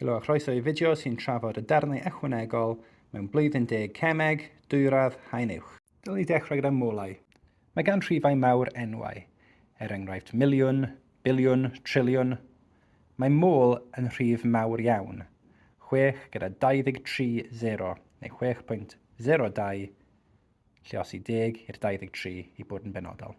Helo a chroeso i fideo sy'n trafod y darnau ychwanegol mewn blwyddyn deg cemeg, dwyradd, haen uwch. Dylwn i ddechrau gyda molau. Mae gan rhifau mawr enwau, er enghraifft miliwn, biliwn, triliwn. Mae mol yn rhif mawr iawn, 6 gyda 23 0, neu 6.02, lle os i deg i'r 23 i bod yn benodol.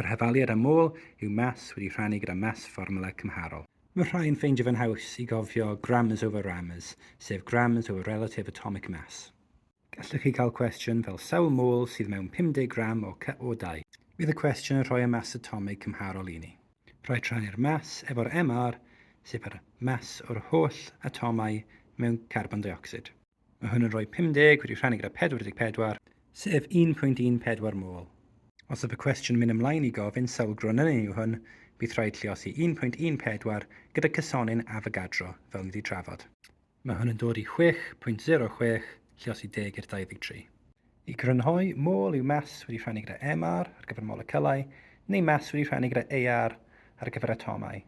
Yr hafaliad am ôl yw maths wedi rhannu gyda maths fformwla cymharol. Mae rhai yn ffeindio fe'n haws i gofio grammars over rammars, sef grammars over relative atomic mass. Gallwch chi cael cwestiwn fel sawl môl sydd mewn 50 gram o CO2? Bydd y cwestiwn yn rhoi y mass atomig cymharol i ni. Rhaid rhannu'r mass efo'r MR, sef yr mass o'r holl atomau mewn carbon deuocsid. Mae hwn yn rhoi 50 wedi rhannu gyda 44, sef 1.14 mol. Os yw y cwestiwn mynd ymlaen i gofyn sawl gronynyn yw hwn, bydd rhaid lluosi 1.14 gyda cysonyn Avogadro, fel ni wedi trafod. Mae hwn yn dod i 6.06, lluosi 10 i'r 23. I grynhoi, mol yw mas wedi rhannu gyda MR ar gyfer moleciwlau, neu mas wedi rhannu gyda AR ar gyfer atomau.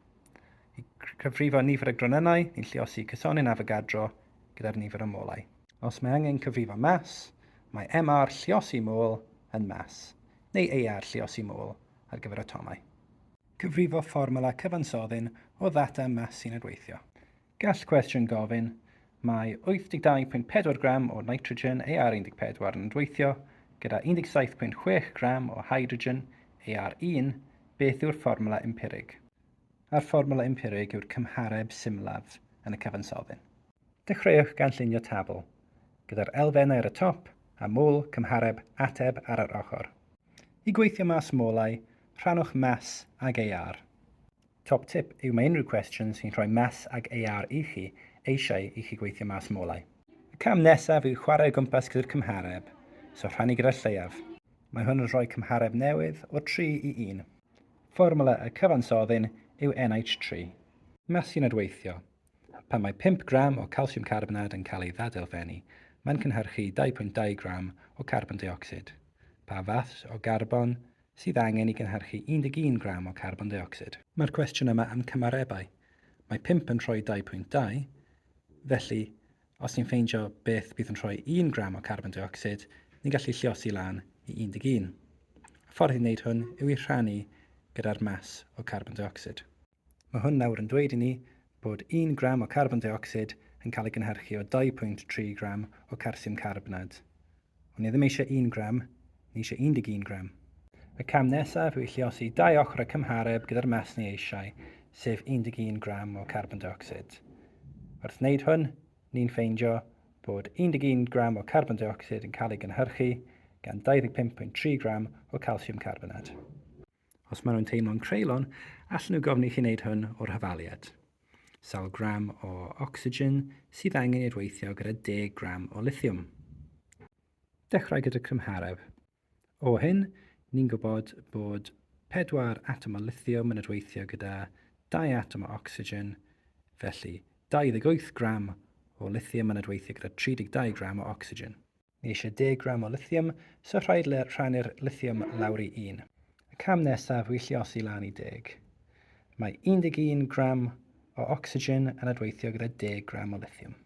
I gyfrifo nifer y gronynau, ni'n lluosi cysonyn Avogadro, gyda'r nifer o molau. Os mae angen cyfrifo mas, mae MR lluosi môl yn mas, neu ER lluosi môl ar gyfer atomau. Cyfrifo fformwla cyfansoddyn o ddata mas sy'n adweithio. Gall cwestiwn gofyn, Mae 82.4 gram o nitrogen, AR14, yn adweithio gyda 17.6 gram o hydrogen, AR1, beth yw'r fformwla empirig? a'r fformwla empirig yw'r cymhareb symlaf yn y cyfansoddyn. Dechreuwch gan llunio tabl, gyda'r elfennau ar y top a mol cymhareb ateb ar yr ochr. I gweithio mas molau, rhannwch mas ag AR. Top tip yw mae unrhyw cwestiwn sy'n rhoi mas ag AR i chi eisiau i chi gweithio mas molau. Y cam nesaf yw chwarae o gwmpas gyda'r cymhareb, so rhannu gyda'r lleiaf. Mae hwn yn rhoi cymhareb newydd o 3 i 1. Fformwla y cyfansoddyn yw NH3. Masin adweithio, Pan mae pump gram o calsiwm carbonad yn cael ei ddadelfennu, mae'n cynhyrchu 2.2 gram o carbon deuocsid. Pa fath o garbon sydd angen i gynhyrchu 11 gram o carbon deuocsid? Mae'r cwestiwn yma am cymarebau. Mae pump yn rhoi 2.2, felly Os ni'n ffeindio beth bydd yn rhoi 1 gram o carbon deuocsid, ni'n gallu lliosi lan i 11. Y ffordd i wneud hwn yw i rhannu gyda'r mas o carbon deuocsid. Mae hwn nawr yn dweud i ni bod 1 gram o carbon deuocsid yn cael ei gynhyrchu o 2.3 gram o carsiwm carbnad. O'n i ddim eisiau un gram, ni eisiau 11 gram. Y cam nesaf yw i lluosi dau ochr y cymhareb gyda'r mas ni eisiau, sef 11 gram o carbon deuocsid. Wrth wneud hwn, ni'n ffeindio bod 11 gram o carbon deuocsid yn cael ei gynhyrchu gan 25.3 gram o calsiwm carbonad. Os maen nhw'n teimlo'n creulon, allan nhw gofyn i chi wneud hwn o'r hyfaliad. Sawl gram o ocsigen sydd angen i'r weithio gyda 10 gram o lithiwm? Dechrau gyda cymhareb. O hyn, ni'n gwybod bod 4 atom o lithiwm yn adweithio gyda 2 atom o ocsigen, felly 28 gram o lithiwm yn adweithio gyda 32 gram o ocsigen. Ni eisiau 10 gram o lithium, so rhaid le rhannu'r lithium lawr i un. Y cam nesaf yw lliosi lan i 10. Mae 11 gram o ocsigen yn adweithio gyda 10 gram o lithium.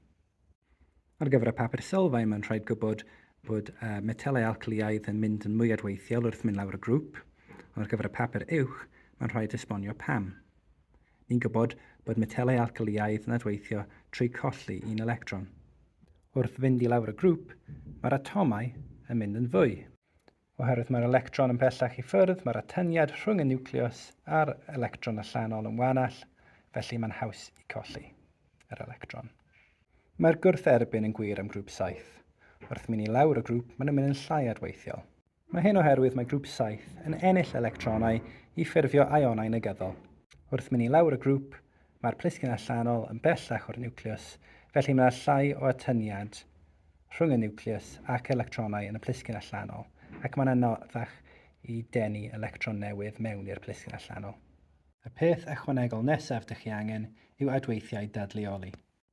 Ar gyfer y papur sylfaen, mae'n rhaid gwybod bod uh, metelau alcalïaidd yn mynd yn mwy adweithiol wrth mynd lawr y grŵp, ond ar gyfer y papur uwch, mae'n rhaid esbonio pam. Ni'n gwybod bod metelau alcalïaidd yn adweithio trwy colli un electron. Wrth fynd i lawr y grŵp, mae'r atomau yn mynd yn fwy. Oherwydd mae'r electron yn bellach i ffwrdd, mae'r atyniad rhwng y niwclews a'r electron allanol yn wanach, felly mae'n haws i colli yr electron. Mae'r gwrth-erbyn yn gwir am grŵp saith. Wrth mynd i lawr y grŵp, maen nhw'n mynd yn llai adweithiol. Mae hyn oherwydd mae grŵp saith yn ennill electronau i ffurfio ionau negyddol. Wrth mynd i lawr y grŵp, mae'r plisgyn allanol yn bellach o'r niwclews, felly mae 'na llai o atyniad rhwng y niwclews ac electronau yn y plisgyn allanol, ac mae'n anoddach i denu electron newydd mewn i'r plisgyn allanol. Y peth ychwanegol nesaf dych chi angen yw adweithiau dadleoli.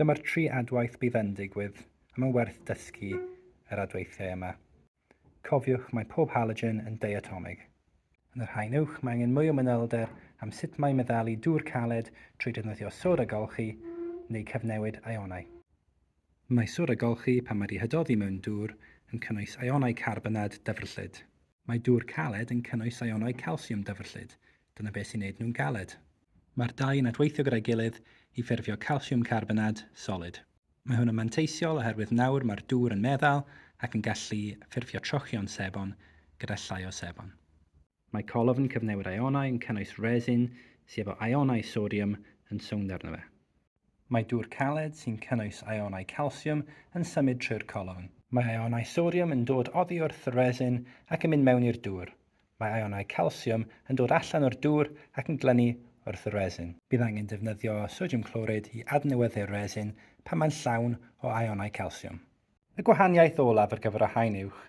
Dyma'r tri adwaith bydd yn digwydd, a mae'n werth dysgu yr adweithiau yma. Cofiwch, mae pob halogen yn diatomig. Yn yr haen uwch, mae angen mwy o manylder am sut mae meddalu dŵr caled trwy defnyddio sod a golchi neu cyfnewid ionau. Mae sod a golchi, pan mae dihydoddi mewn dŵr, yn cynnwys ionau carbonad dyfrllyd. Mae dŵr caled yn cynnwys ionau calsiwm dyfrllyd, dyna beth sy'n neud nhw'n galed. Mae'r dau yn adweithio gyda'i gilydd i ffurfio calsiwm carbonad solid. Mae hwn yn manteisiol oherwydd nawr mae'r dŵr yn meddal ac yn gallu ffurfio trochion sebon gyda llai o sebon. Mae colofn yn cyfnewid ionau yn cynnwys resin sy efo ionau sodiwm yn sownd arno fe. Mae dŵr caled sy'n cynnwys aeonau calsiwm yn symud trwy'r colofn. Mae aeonau sodiwm yn dod oddi wrth y resin ac yn mynd mewn i'r dŵr. Mae aeonau calsiwm yn dod allan o'r dŵr ac yn glynu wrth y resin. Bydd angen defnyddio sodiwm clorid i adnewyddu'r resin pan mae'n llawn o aeonau calsiwm. Y gwahaniaeth olaf ar gyfer y haen uwch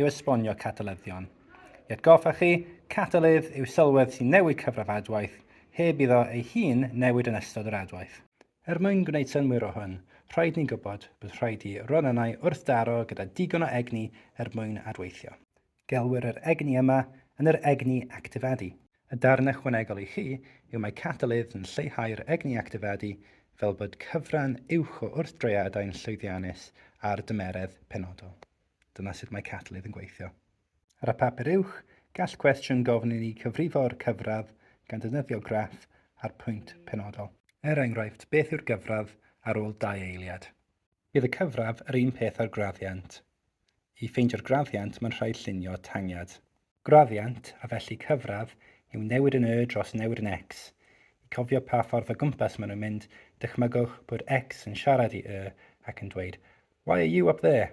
yw esbonio catalyddion. I atgoffa chi, catalydd yw sylwedd sy'n newid cyfradd adwaith heb iddo ei hun newid yn ystod yr adwaith. Er mwyn gwneud synnwyr o hwn, rhaid ni gwybod bod rhaid i ronynnau wrthdaro gyda digon o egni er mwyn adweithio. Gelwir yr egni yma yn yr egni actifadu. Y darn ychwanegol i chi yw mae catalydd yn lleihau'r egni actifadu fel bod cyfran uwch o wrthdroiadau'n llwyddiannus ar dymeredd penodol. Dyna sut mae catalydd yn gweithio. Ar y papur uwch, gall cwestiwn gofyn i ni cyfrifo'r cyfradd gan ddefnyddio graff a'r pwynt penodol. Er enghraifft, beth yw'r gyfradd ar ôl dau eiliad? Bydd y cyfradd yr un peth â'r graddiant. I ffeindio'r graddiant mae'n rhaid llunio tangiad. Graddiant, a felly cyfradd, yw newid yn Y dros newid yn X. I cofio pa ffordd o gwmpas maen nhw'n mynd, dychmygwch bod X yn siarad i Y ac yn dweud, Why are you up there?